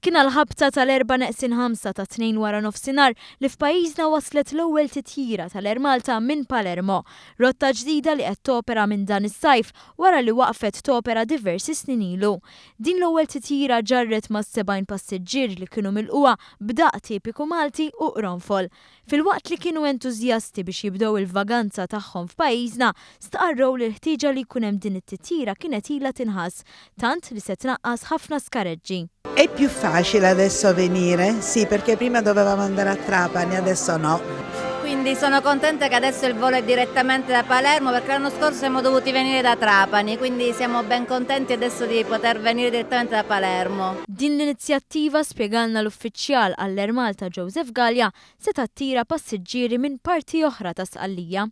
Kien għall-ħabta tal-erba' neqsin ħamsa tat-Tnejn wara nofsinhar li f'pajjiżna waslet l-ewwel titjira tal-Air Malta minn Palermo, rotta ġdida li qed topera minn dan is-sajf wara li waqfet topera diversi snin ilu. Din l-ewwel titjira ġarret ma' 70 passiġġier li kienu milqugħa b'daqq tipiku Malti u qronfol. Filwaqt li kienu entużjasti biex jibdew il-vaganza tagħhom f'pajjiżna, stqarrew li l-ħtieġa li jkun hemm din it-titjira kienet ilha tinħass, tant li se tnaqqas ħafna skareġġi. È più facile adesso venire? Sì, perché prima dovevamo andare a Trapani, adesso no. Quindi sono contenta che adesso il volo è direttamente da Palermo perché l'anno scorso siamo dovuti venire da Trapani, quindi siamo ben contenti adesso di poter venire direttamente da Palermo. Din l-inizjattiva, spjegalna l-uffiċjal għall-Air Malta Joseph Galea, se tattira passiġġieri minn parti oħra ta' Sqallija.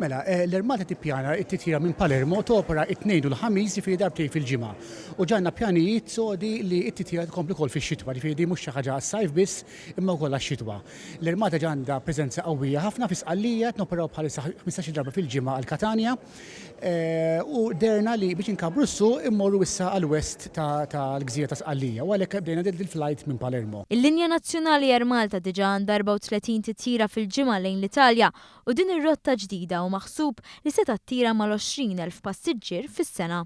Mela, l-Air Malta tippjana t-titjira minn Palermo topera t-Tnejn u l-Ħamis, jiġifieri darbtejn fil-ġimgħa. U ġa għandna pjanijiet sodi li t-titjira tkompli wkoll fix-xitwa, jiġifieri din mhux xi ħaġa għas-sajf biss imma wkoll għax-xitwa. L-Air Malta ġa għandha preżenza qawwija ħafna fi Sqallija, qed noperaw bħalissa ħmistax-il darba fil-ġimgħa għal Catania. u qderna li biex inkabbru s-suq immorru issa għall-west tal-gżira ta' Sqallija u għalhekk bdejna dil-flajt minn Palermo. Il-linja nazzjonali Air Malta diġà għandha 34 titjira fil-ġimgħa lejn l-Italja u din ir-rotta ġdida hu maħsub li se tattira mal-20 elf passiġġier fis-sena.